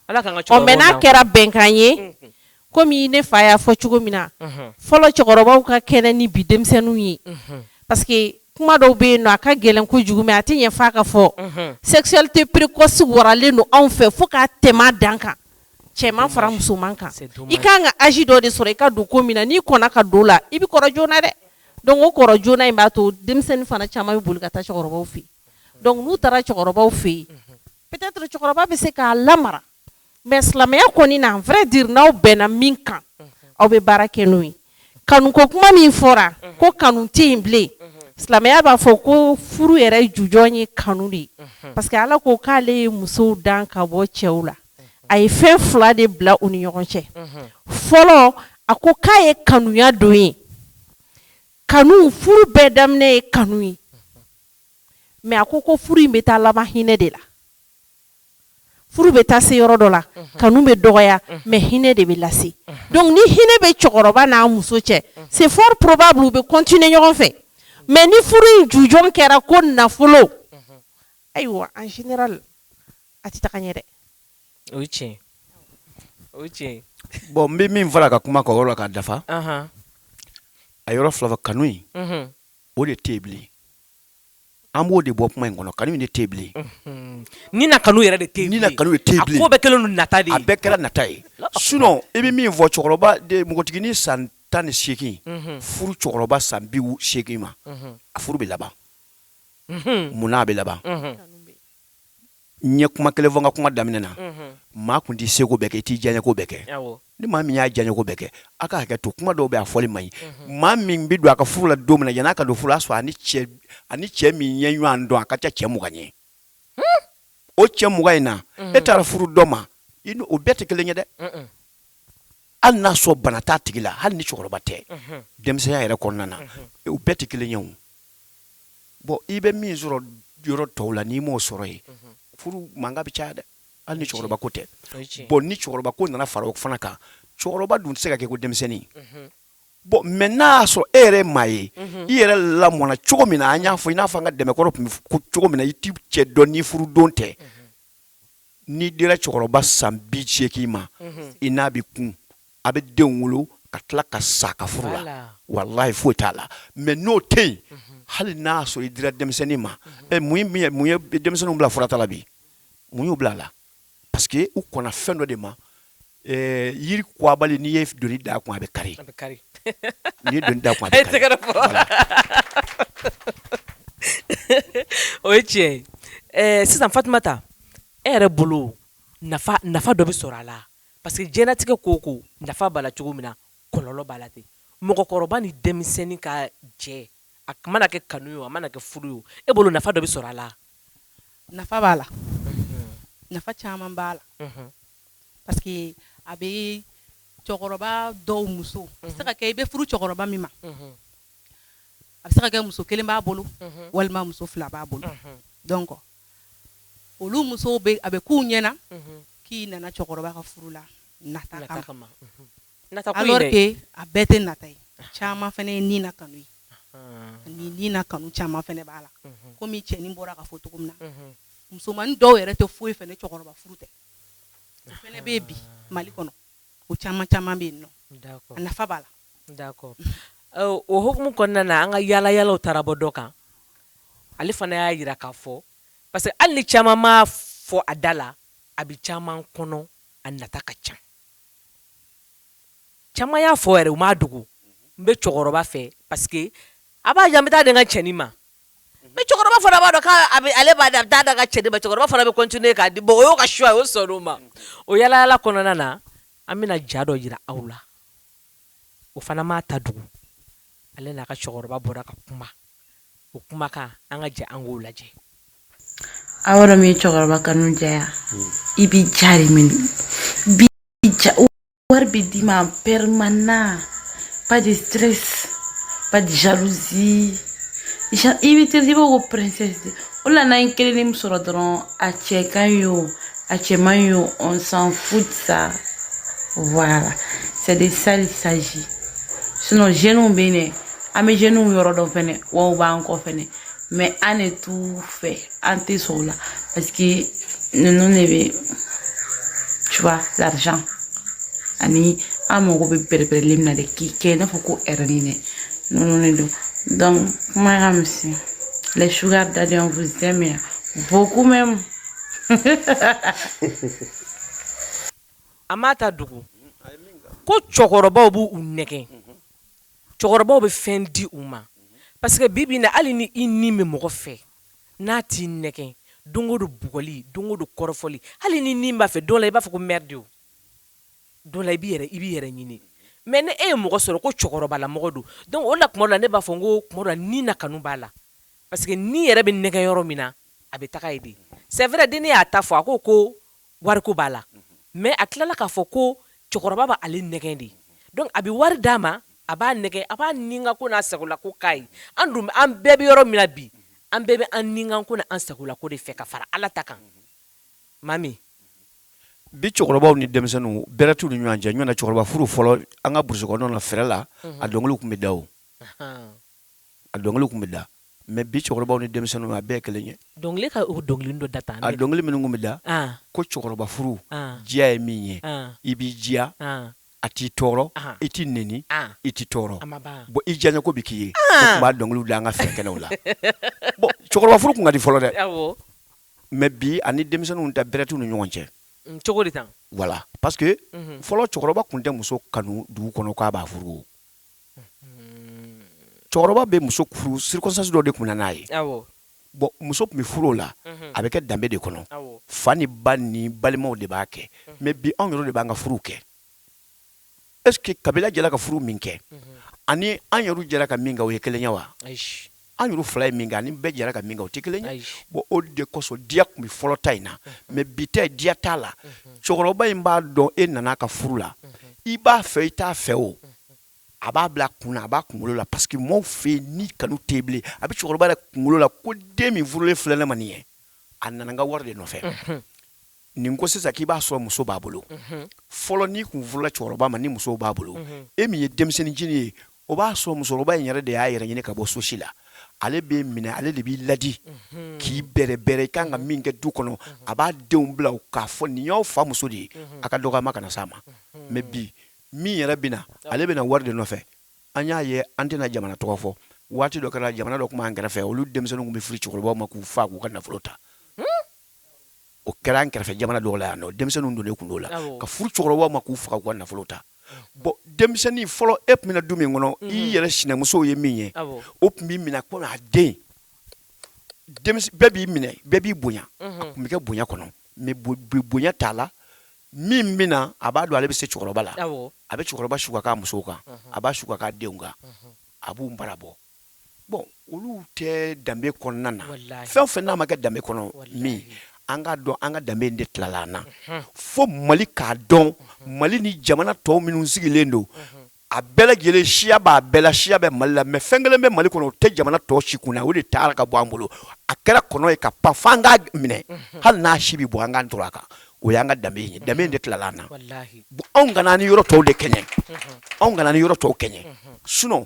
ala mais n'a kɛra bɛnkan ye komi ne fa y'a fɔ cogo min na fɔlɔ cɛkɔrɔbaw ka kɛnɛ ni bi denmisɛnninw ye parce que kuma dɔw bɛ yen nɔ a ka gɛlɛn kojugu mais a tɛ ɲɛ f'a ka fɔ sexualité précoce waralen don anw fɛ fo k'a tɛmɛ dan kan cɛman fara musoman kan c'est dommage i kan ka âge dɔ de sɔrɔ i ka don ko min na n'i kɔnna ka don la i bi kɔrɔ joona dɛ donc o kɔrɔ joona in b'a to denmisɛnnin fana caman be boli ka taa cɛkɔrɔbaw fɛ yen donc n'u taara cɛkɔrɔbaw fɛ yen unhun peut-être cɛkɔrɔba be se k'a lamara mais silamɛya kɔni na en vrai dire n'aw bɛnna min kan unhun aw be baara kɛ n'o ye kanu ko kuma min fɔra unhun ko kanu te yen bilen unhun silamɛya b'a fɔ ko furu yɛrɛ jujɔn ye kanu de ye unhun parce que Ala ko k'ale ye musow dan ka bɔ cɛw la a ye fɛn fila de bila u ni ɲɔgɔn cɛ fɔlɔ a ko k'a ye kanuya don ye kanu furu bɛɛ daminɛ ye kanu ye mais a ko ko furu in bɛ taa laban hinɛ de la furu bɛ taa se yɔrɔ dɔ la kanu bɛ dɔgɔya mais hinɛ de bɛ lase donc ni hinɛ bɛ cɛkɔrɔba n'a muso cɛ c'est probable u bɛ continuer ɲɔgɔn fɛ mais ni furu in jujɔn kɛra ko nafolo ayiwa en a tɛ taa ɲɛ dɛ o tiɲɛ o tiɲɛ bon n bɛ min fara ka kuma kɔrɔ la ka dafa a yɔrɔ fila fɔ kanu in o de tɛ bilen an b'o de bɔ kuma in kɔnɔ kanu in de tɛ bilen ni na kanu yɛrɛ de tɛ ni kanu in tɛ bilen bɛɛ kɛlen nata de a bɛɛ kɛra nata ye sinon i bɛ min fɔ cɛkɔrɔba de npogotiginin san tan ni seegin furu cɛkɔrɔba san bi seegin ma a furu bɛ laban munna a bɛ laban n ye kuma kelen fɔ n ka kuma daminɛ na maa kun t'i seko bɛɛ kɛ i t'i diyaɲɛko bɛɛ kɛ ni maa min y'a diyaɲɛko bɛɛ kɛ a ka hakɛ to kuma dɔw bɛ a fɔli man ɲi maa min bɛ don a ka furu la don min na yan'a ka don furu la sɔrɔ a ni cɛ min ye ɲɔgɔn dɔn a ka ca cɛ mugan ye o cɛ mugan in na e taara furu dɔ ma o bɛɛ tɛ kelen ye dɛ hali n'a sɔrɔ bana t'a tigi la hali ni cɛkɔrɔba tɛ denmisɛnya yɛrɛ kɔnɔna na u bɛɛ tɛ kelen ye o bon i bɛ min sɔrɔ yɔrɔ tɔw la n'i m'o sɔrɔ yen furu mankan bɛ caya dɛ hali ni cɛkɔrɔba ko tɛ bon ni cɛkɔrɔba ko nana fara o fana kan cɛkɔrɔba dun tɛ se ka kɛ ko denmisɛnnin bon mais n'a y'a sɔrɔ e yɛrɛ maa ye i yɛrɛ lamɔna cogo min na an y'a fɔ i n'a fɔ an ka danbe kɔrɔ tun bɛ cogo min na i t'i cɛ dɔn ni furudon tɛ n'i dira cɛkɔrɔba san bi seegin ma i n'a bɛ kun a bɛ denw wolo ka tila ka sa ka furu la walayi foyi t'a la mais n'o tɛ yen hali n'a sɔrɔ i dira denmisɛnnin ma mun ye denmisɛnninw bila furata la bi mun y'u bila a la parce que u kɔnna fɛn dɔ de ma Ɛɛ yiri kɔgɔbali n'i ye doni d'a kun a bɛ kari, a bɛ kari, n'i ye doni d'a kun a bɛ kari, a ye tɛgɛrɛ fɔ, voilà o ye tiɲɛ ye, ɛ sisan Fatumata e yɛrɛ bolo nafa nafa dɔ bɛ sɔrɔ a la parce que diɲɛlatigɛ ko o ko nafa b'a la cogo min na kɔlɔlɔ b'a la ten, mɔgɔkɔrɔba ni denmisɛnnin ka jɛ a mana kɛ kanu ye o a mana kɛ furu ye o e bolo nafa dɔ bɛ sɔrɔ a la, nafa b'a la, unhun, nafa caman b'a la, unhun Parce que a bɛ cɛkɔrɔba dɔw muso a bɛ se ka kɛ i bɛ furu cɛkɔrɔba min ma a bɛ se ka kɛ muso kelen b'a bolo walima muso fila b'a bolo donc olu musow a bɛ k'u ɲɛna k'i nana cɛkɔrɔba ka furu la nata kama alors que a bɛɛ tɛ nata ye caman fana ye ni na kanu ye ani ni na kanu caman fana b'a la comme cɛnin bɔra k'a fɔ cogo min na musoman dɔw yɛrɛ tɛ foyi fɛ ni cɛkɔrɔba furu tɛ fana bɛ bi Mali kɔnɔ o caman caman bɛ yen nafa b'a la o hukumu kɔnɔna na an ka yaalayaalaw taara bɔ dɔ kan ale fana y'a jira k'a fɔ parce que hali ni caman m'a fɔ a da la a bɛ caman kɔnɔ a nata ka ca caman y'a fɔ yɛrɛ u m'a dogo n bɛ cɛkɔrɔba fɛ parce que a b'a di yan n bɛ taa di n ka cɛnin ma Mais cɛkɔrɔba fana b'a dɔn k'ale b'a ta taa d'a ka cɛnin ma cɛkɔrɔba fana bɛ continuer k'a di bon o y'o ka choix o sɔnna o ma o yaalayaala kɔnɔna na an bɛna ja dɔ jira aw la o fana m'a ta dogo ale n'a ka cɛkɔrɔba bɔra ka kuma o kuma kan an ka jɛ an k'o lajɛ aw yɔrɔ min cɛkɔrɔba kanu diya i bɛ ja min wari bɛ d'i ma permanent pas de stress pas de jalousie i bɛ traité i b'a fɔ ko princesse de o la n'an ye kelen min sɔrɔ dɔrɔn a cɛ ka ɲi o a cɛ man ɲi o on s'en fout de ça voilà c'est de ça il s'agit sinon jeunes bɛ yen dɛ an bɛ jeunes yɔrɔ dɔn fɛnɛ wa u b'an kɔ fɛnɛ mais an de t'u fɛ an tɛ sɔn o la parce que ninnu de bɛ tu vois l'argent ani an mago bɛ bɛrɛbɛrɛli min na de k'i kɛ i n'a fɔ ko reine dɛ ninnu de don donc kuma ka misɛn les sugar daddy on vous aime beaucoup même a m'a ta dogo ko cɛkɔrɔbaw b'u nɛgɛn cɛkɔrɔbaw bɛ fɛn di u ma parce que bibi na hali ni i ni bɛ mɔgɔ fɛ n'a t'i nɛgɛn don o don bugɔli don o don kɔrɔfɔli hali ni ni b'a fɛ dɔ la i b'a fɔ ko merde dɔ la i b'i yɛrɛ ɲini mais ni e ye mɔgɔ sɔrɔ ko cɛkɔrɔbalamɔgɔ don donc o la tuma dɔ la ne b'a fɔ n ko kuma dɔ la ni na kanu b'a la parce que ni yɛrɛ bɛ nɛgɛn yɔrɔ min na a bɛ taga yen de c'est vrai dennin y'a ta fɔ a ko wariko b'a la mais a tilala k'a fɔ ko cɛkɔrɔba b'ale nɛgɛn de donc a bɛ wari d'a ma a b'a nɛgɛn a b'a ni ko n'a sagola ko k'a ye an dun an bɛɛ bɛ yɔrɔ min na bi an bɛɛ bɛ an ni ko n'an sagola ko de fɛ ka fara ala ta kan mami bi cɛkɔrɔbaw ni denmisɛnninw bɛrɛ t'u ni ɲɔgɔn cɛ ɲɔgɔn na cɛkɔrɔba furu fɔlɔ an ka burusi kɔnɔna fɛrɛ la a dɔnkiliw tun bɛ da a dɔnkiliw tun bɛ da Mais bi cɛkɔrɔbaw ni denmisɛnninw a bɛɛ kelen ye dɔnkili ka o dɔnkili dɔ da tan a dɔnkili minnu tun bɛ da ko cɛkɔrɔba furu diya ye min ye i b'i diya a t'i tɔɔrɔ i t'i neni i t'i tɔɔrɔ bon i diya ko bɛ k'i ye o tun b'a dɔnkiliw da an ka fɛn kɛnɛw la cɛkɔrɔba furu tun ka di fɔlɔ dɛ mais bi ani denmisɛnninw ta bɛrɛ t'u ni ɲɔgɔn cɛ cogo di voilà parce que fɔlɔ cɛkɔrɔba tun tɛ muso kanu dugu kɔnɔ k'a b'a furu cɛkɔrɔba bɛ muso furu circonstance dɔ de tun bɛ na n'a ye bon muso tun bɛ furu o la a bɛ kɛ danbe de kɔnɔ fa ni ba ni balimaw de b'a kɛ mais bi anw yɛrɛ de b'an ka furu kɛ est ce que kabila jɛra ka furu min kɛ ani an yɛrɛ jɛra ka min kɛ o ye kelen ye wa an yɛrɛ fila ye min kɛ ani bɛɛ jɛra ka min kɛ o tɛ kelen ye bon o de kosɔn diya tun bɛ fɔlɔ ta in na mais bi ta diya t'a la cɛkɔrɔba in b'a dɔn e nana ka furu la i b'a fɛ i t'a fɛ o a b'a bila kun na a b'a kunkolo la parce que maaw fɛ ni kanu tɛ bilen a bɛ cɛkɔrɔba yɛrɛ kunkolo la ko den min furulen filɛ ne ma nin ye a nana n ka wari de nɔfɛ nin ko sisan k'i b'a sɔrɔ muso b'a bolo fɔlɔ n'i kun furula cɛkɔrɔba ma ni muso b'a bolo e min ye denmisɛnnincinin ye o b'a sɔrɔ musokɔrɔba in yɛrɛ de y'a yɛrɛ ɲini ka bɔ sosi la ale b'e minɛ ale de b'i ladi k'i bɛrɛ bɛrɛ i kan ka min kɛ du kɔnɔ a b'a denw bila k'a fɔ nin y'aw fa muso de ye a ka dɔgɔ maa kana s'a ma mais bi min yɛrɛ bɛ na ale bɛna wari de nɔfɛ an y'a ye an tɛna jamana tɔgɔ fɔ waati dɔ kɛra jamana dɔ tun b'an kɛrɛfɛ olu denmisɛnninw tun bɛ furu cɛkɔrɔbaw ma k'u fa k'u ka nafolo ta o kɛra an kɛrɛfɛ jamana dɔw la yan nɔ denmisɛnnin don tun' la ka furu cɛkɔrɔba ma k'u faga k'u ka nafolo ta bon denmisɛnnin fɔlɔ e tun bɛ du min kɔnɔ i yɛrɛ sinamuso ye min ye o tun b'i minɛ komi den bɛɛ b'i minɛ bɛɛ b'i bonya tun bɛ kɛ bonya kɔnɔ bonya t'a la min bɛ na a b'a dɔn ale bɛ se cɛkɔrɔba la a bɛ cɛkɔrɔba su ka muso kan a b'a su ka denw kan a b'u bara bɔ bon olu tɛ danbe kɔnɔna na fɛn o fɛn n'a ma kɛ danbe kɔnɔ min an k'a dɔn an ka danbe de tilala an na fo Mali k'a dɔn Mali ni jamana tɔw minnu sigilen don a bɛɛ lajɛlen siya b'a bɛɛ la siya bɛ Mali la mais fɛn kelen bɛ Mali kɔnɔ o tɛ jamana tɔw si kun na o de taara ka bɔ an bolo a kɛra kɔnɔ ye ka pan f'an k'a minɛ hali n'a si bɛ bɔ an ka tora a kan o y'an ka danbe ye danbe de tilala an na anw kana ni yɔrɔ tɔw de kɛɲɛ anw kana ni yɔrɔ tɔw kɛɲɛ sun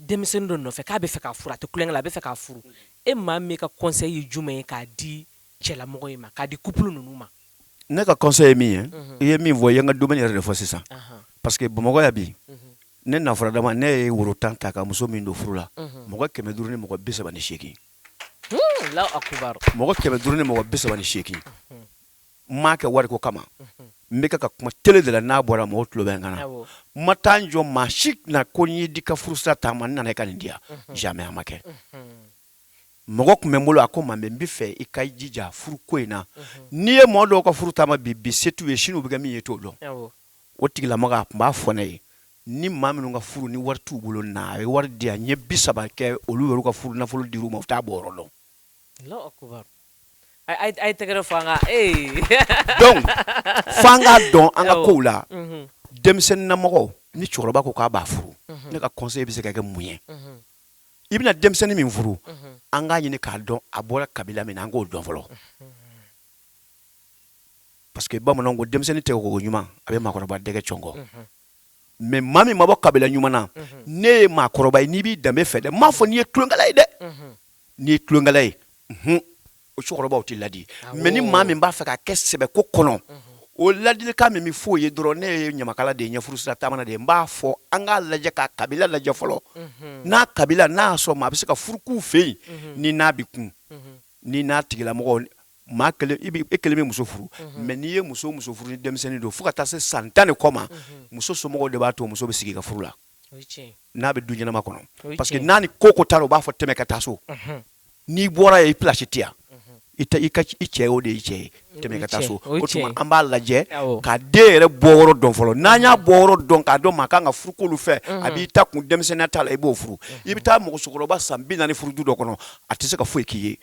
denmisɛnnin dɔ nɔfɛ k'a b'a fɛ k'a furu a tɛ tulonkɛ la a b'a fɛ k'a furu e Mamɛ ka conseil ye jumɛn ye k'a di cɛlamɔgɔ in ma k'a di couple ninnu ma ne ka conseil ye min ye i ye min fɔ i ye n ka domaine yɛrɛ de fɔ sisan parce que Bamakɔ yan bi ne nafuradama ne ye woro tan ta ka muso min don furu la mɔgɔ kɛmɛ duuru ni mɔgɔ bi saba ni seegin mɔgɔ kɛmɛ duuru ni mɔgɔ bi saba ni seegin n m'a kɛ wariko kama n bɛ ka kuma tele de la n'a bɔra mɔgɔ tulo b'a kan n ma taa jɔ maa si tɛna ko n y'i den ka furusira taama n nana i ka nin di yan jamais a ma kɛ mɔgɔ tun bɛ n bolo a ko Mamɛ n b'a fɛ i ka jija furu ko in na n'i ye mɔgɔ dɔw ka furu taama bi bi se t'u ye sini u bɛ kɛ min ye i t'o dɔn o tigilamɔgɔ a tun b'a fɔ ne ye ni maa minnu ka furu ni wari t'u bolo na a ye wari di n ye bi saba kɛ olu yɛrɛ ka furu nafolo di u ma u t'a bɔ yɔrɔ dɔn Tɛgɛrɛ f'an k'a dɔn an ka kow la denmisɛnninnamɔgɔ ni cɛkɔrɔba ko k'a b'a furu ne ka conseil bɛ se ka kɛ mun ye i bɛna denmisɛnnin min furu an k'a ɲini k'a dɔn a bɔra kabila min na an k'o dɔn fɔlɔ parce que bamananw ko denmisɛnnin tɛgɛ ko ɲuman a bɛ mɔgɔkɔrɔba dɛgɛ cɔngɔ mais maa min ma bɔ kabila ɲuman na ne ye mɔgɔkɔrɔba n'i b'i danbe fɛ dɛ n m'a fɔ n'i ye tulonkɛla ye dɛ n'i ye tulonkɛla ye hun o cɛkɔrɔbaw tɛ ladi mais ni maa min b'a fɛ k'a kɛ sɛbɛko kɔnɔ o ladilikan min bɛ f'o ye dɔrɔn ne ye ɲamakala de ye n ye furusira taamana de ye n b'a fɔ an k'a lajɛ k'a kabila lajɛ fɔlɔ n'a kabila n'a sɔrɔ maa bɛ se ka furu k'u fɛ yen ni n'a bɛ kun ni n'a tigilamɔgɔ maa e kelen bɛ muso furu mais n'i ye muso muso furu ni denmisɛnnin don fo ka taa se san tan ni kɔ ma muso somɔgɔw de b'a to muso bɛ sigi ka furu la n'a bɛ du ɲɛnama kɔnɔ parce que n'a ni ko o ko taara u b'a fɔ tɛmɛ ka taa so n'i bɔra yen i place tɛ yan i i cɛ o de y'i cɛ ye tɛmɛ ka taa so o tuma an b'a lajɛ ka den yɛrɛ bɔ yɔrɔ dɔn fɔlɔ n'an y'a bɔ yɔrɔ dɔn k'a dɔn maa kan ka furu k'olu fɛ a b'i ta kun denmisɛnninya t'a la i b'o furu i bɛ taa mɔgɔkɔrɔba san bi naani furu du dɔ kɔnɔ a tɛ se ka foyi k'i ye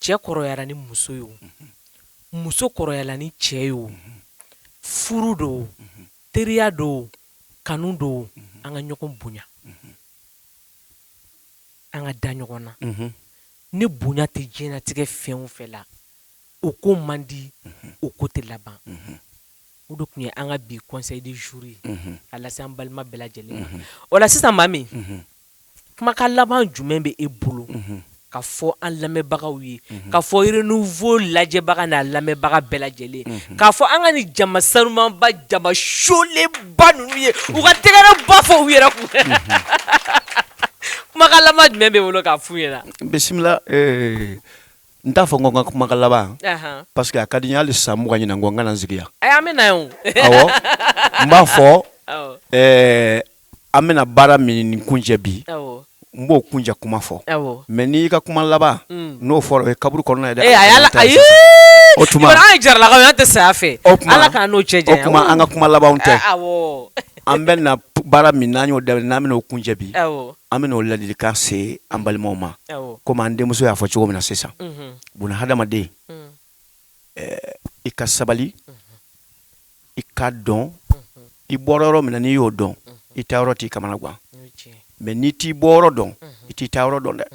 cɛ kɔrɔyara ni muso ye o muso kɔrɔyala ni cɛ ye o furu do teriya do kanu do an ka ɲɔgɔn bonya an ka da ɲɔgɔn na ni bonya tɛ diɲɛlatigɛ fɛn o fɛn la o ko man di o ko tɛ laban o de tun ye an ka bi conseil du jour ye a lase an balima bɛɛ lajɛlen ma o la sisan Mami kumakan laban jumɛn bɛ e bolo ka fɔ an lamɛnbagaw ye ka fɔ Renouveau lajɛbaga n'a lamɛnbaga bɛɛ lajɛlen k'a fɔ an kanu jama sanumanba jama solenba ninnu ye u ka tɛgɛrɛba fɔ u yɛrɛ kun kumakan laban jumɛn b'i bolo k'a f'u ye bisimila n t'a fɔ ko n ka kumakan laban parce que a ka di n ye hali san mugan ɲinan kɔ n ka na n sigi yan an bɛ na n b'a fɔ an bɛna baara min kuncɛ bi n b'o kuncɛ kuma fɔ mais n'i ka kuma laban mm. n'o fɔra o ye kaburu kɔnɔ ye dɛ eh, o tuma an jaralakaw tɛ saya fɛ o ala k'an n'o cɛ janya o tuma an ka kuma laban tɛ eh, an bɛna baara min n'an y'o daminɛ n'an bɛna o kuncɛ bi an bɛna o ladilikan se an balimaw ma komi an denmuso y'a fɔ cogo min na sisan mhm. bon hadamaden mm. i ka sabali i k'a dɔn i bɔra yɔrɔ min na n'i y'o dɔn i taa yɔrɔ t'i kamana gan mais n'i t'i bɔ yɔrɔ dɔn i t'i taa yɔrɔ dɔn dɛ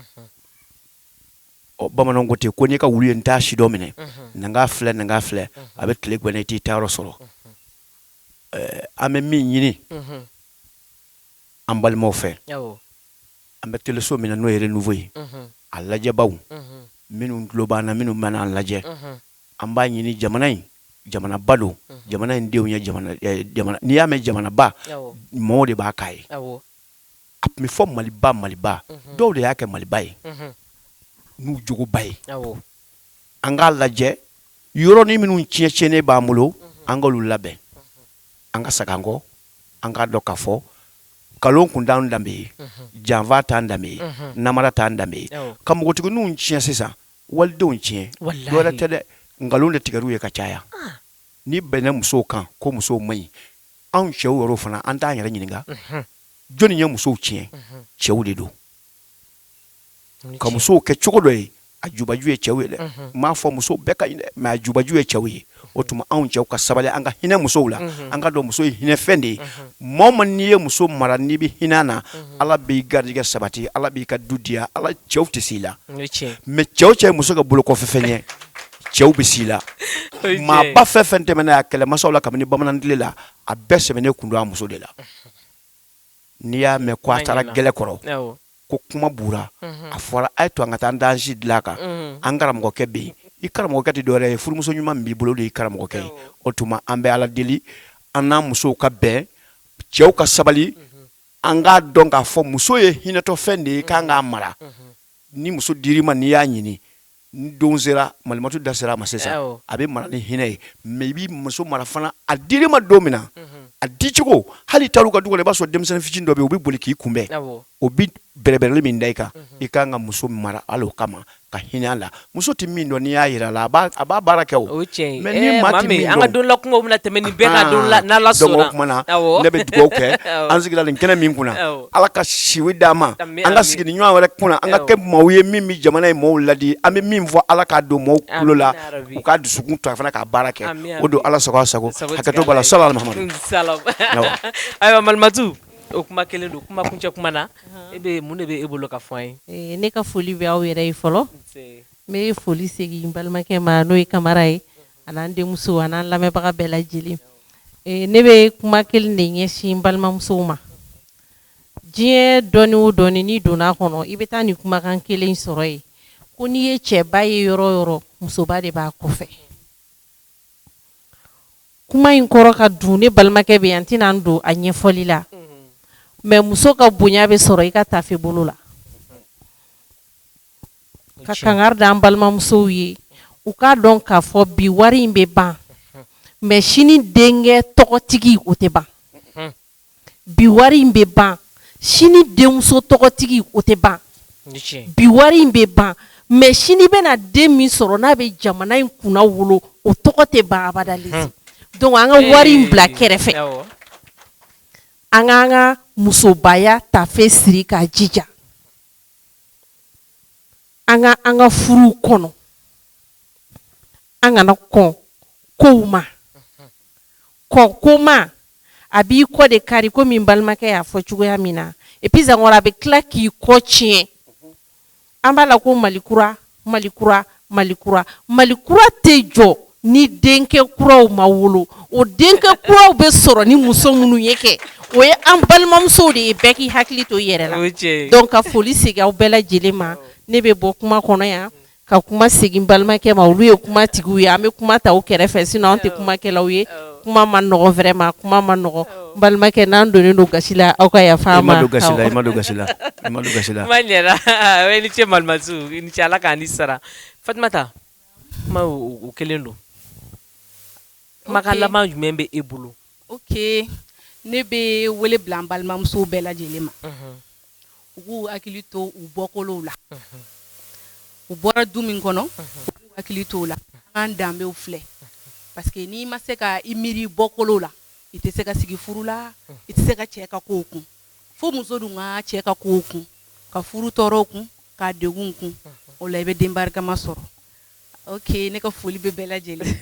ɔ bamananw ko ten ko n'i ka wulu ye n t'a si dɔn minɛ na k'a filɛ na k'a filɛ a bɛ tile gan i t'i taa yɔrɔ sɔrɔ an bɛ min ɲini an balimaw fɛ An bɛ teleso min na n'o ye Renouveau ye a lajɛbaw minnu tulo b'an na minnu bɛna an lajɛ an b'a ɲini jamana in jamanaba don jamana in denw ye n'i y'a mɛn jamanaba mɔgɔw de b'a k'a ye a tun bɛ fɔ maliba maliba dɔw de y'a kɛ maliba ye n'u jogoba ye an k'a lajɛ yɔrɔnin minnu tiɲɛnen b'an bolo an k'olu labɛn an ka segin an kɔ an k'a dɔn k'a fɔ nkalon kun t'an danbe ye janfa t'an danbe ye namara t'an danbe ye ka npogotigininw tiɲɛ sisan walidenw tiɲɛ dɔ wɛrɛ tɛ dɛ nkalon de tigɛr'u ye ka caya ni bɛnna musow kan ko musow man ɲi anw cɛw yɛrɛ fana an t'an yɛrɛ ɲininka jɔnni ye musow tiɲɛ cɛw de don ka musow kɛ cogo dɔ ye a jubaju ye cɛw ye dɛ n m'a fɔ muso bɛɛ ka ɲi dɛ mais a jubaju ye cɛw ye o tuma anw cɛw ka sabali an ka hinɛ musow la an k'a dɔn muso ye hinɛfɛn de ye maa o maa n'i ye muso mara n'i bɛ hinɛ a na ala b'i garijɛgɛ sabati ala b'i ka du diya ala cɛw tɛ se i la mais cɛ o cɛ ye muso kɛ bolokɔfɛ fɛn ye cɛw bɛ se i la maaba fɛn o fɛn tɛmɛna yan kɛlɛmasaw la kabini bamanan tile la a bɛɛ sɛmɛnen tun don a muso de la n'i y'a mɛn ko a taara gɛlɛ kɔrɔ ko kuma bura a fɔra a ye to an ka taa an dansi dilan k'an karamɔgɔkɛ bɛ yen i karamɔgɔkɛ tɛ dɔwɛrɛ ye furumuso ɲuman min b'i bolo de ye karamɔgɔkɛ ye o tuma an bɛ ala deli an n'an musow ka bɛn cɛw ka sabali an k'a dɔn k'a fɔ muso ye hinɛtɔfɛn de ye k'an k'a mara ni muso dir'i ma n'i y'a ɲini Ni don sera malimatu da sera a ma sisan a bɛ mara ni hinɛ ye mais i b'i muso mara fana a dir'i ma don min na a dicogo hali taar'u ka du kɔnɔ i b'a sɔrɔ denmisɛnnin fitinin dɔ bɛ yen u bɛ boli k'i kunbɛn o bɛ bɛrɛbɛrɛli min da i kan i ka kan ka muso mara hali o kama ka hinɛ a la muso tɛ min dɔn n'i y'a jira la a a b'a baara kɛ o cɛ mais ni maa min an ka don la tɛmɛ ni bɛɛ la ne bɛ dugawu kɛ an sigira nin kɛnɛ min kunna Ala ka si di an ma an ka sigi nin ɲɔgɔn wɛrɛ kunna an ka kɛ maaw ye min bɛ jamana in maaw ladi an bɛ min fɔ ala k'a don maaw tulo la u ka dusu to a fana k'a baara kɛ o don ala sago a sago sa ayiwa malimatu o kuma kelen don kuma kuncɛ kuma na e bɛ mun de bɛ e bolo ka fɔ an ye ne ka foli bɛ aw yɛrɛ ye fɔlɔ n bɛ foli segin n balimakɛ ma n'o ye kamara ye ani an denmuso an lamɛnbaga bɛɛ lajɛlen ne bɛ kuma kelen de ɲɛsin n balimamusow ma diɲɛ dɔnni o dɔnni n'i donna a kɔnɔ i bɛ taa nin kumakan kelen sɔrɔ yen ko n'i ye cɛba ye yɔrɔ o yɔrɔ musoba de b'a kɔfɛ kuma in kɔrɔ ka dun ne balimakɛ bɛ yan n tɛna n don a ɲɛfɔli la mais muso ka bonya bɛ sɔrɔ i ka taafe bolo la ka kangari da an balimamusow ye u k'a dɔn k'a fɔ bi wari in bɛ ban mais sini denkɛ tɔgɔtigi o tɛ ban bi wari in bɛ ban sini denmuso tɔgɔtigi o tɛ ban bi wari in bɛ ban mais sini bɛna den min sɔrɔ n'a bɛ jamana in kunnawolo o tɔgɔ tɛ ban abada an ka wari in bila kɛrɛfɛ an k'an ka musobaya tafe siri k'a jija An ka an ka furu kɔnɔ an kana kɔn ko ma kɔn ko ma a b'i kɔ de kari komi n balimakɛ y'a fɔ cogoya min na et puis encore a bɛ tila k'i kɔ tiɲɛ an b'a la ko mali kura Mali kura Mali kura Mali kura tɛ jɔ ni denkɛ kuraw ma wolo o denkɛ kuraw bɛ sɔrɔ ni muso minnu ye kɛ o ye an balimamusow de ye bɛɛ k'i hakili to i yɛrɛ la o ye tiɲɛ ye donc ka foli segin aw bɛɛ lajɛlen ma awɔ ne bɛ bɔ kuma kɔnɔ yan ka kuma segin n balimakɛ ma olu ye kuma tigiw ye an bɛ kuma ta u kɛrɛfɛ sinon anw tɛ kumakɛlaw ye awɔ kuma man nɔgɔn vraiment kuma man nɔgɔn balimakɛ n'an donnen don gasi la aw ka yafa an ma don gasi ma don gasi ma gasi i ni ce malimatu i ni ce ala k'an ni sara fatimata kuma o kelen don kumakan laban jumɛn bɛ e bolo o ne bɛ wele bila n balimamuso bɛɛ lajɛlen ma u k'u hakili to u bɔkolow la u bɔra du min kɔnɔ u k'u hakili to o la an danbew filɛ parce que n'i ma se ka i miiri i bɔkolo la i tɛ se ka sigi furu la i tɛ se ka cɛ ka kow kun fo muso dun ka cɛ ka kow kun ka furu tɔɔrɔw kun ka degun kun o la i bɛ den barikama sɔrɔ Oke ne ka foli bɛ bɛɛ lajɛlen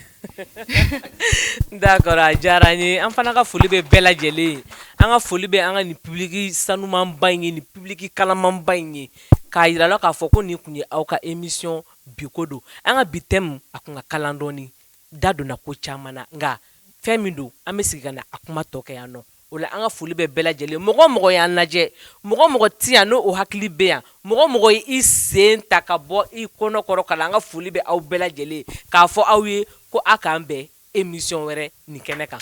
d'accord a diyara n ye an fana ka foli bɛ bɛɛ lajɛlen an ka foli bɛ an ka nin public sanumanba in ye nin public kalamanba in ye k'a yira la k'a fɔ ko nin kun ye aw ka émission bi ko don an ka bi thème a kun ka kalan dɔɔni da donna ko caman na nka fɛn min don an bɛ sigi ka na a kuma tɔ kɛ yan nɔ O la an ka foli bɛ bɛɛ lajɛlen mɔgɔ o mɔgɔ y'an lajɛ mɔgɔ o mɔgɔ tɛ yan n'o hakili bɛ yan mɔgɔ o mɔgɔ ye i sen ta ka bɔ i kɔnɔkɔrɔ ka na an ka foli bɛ aw bɛɛ lajɛlen k'a fɔ aw ye ko a k'an bɛn émission wɛrɛ nin kɛnɛ kan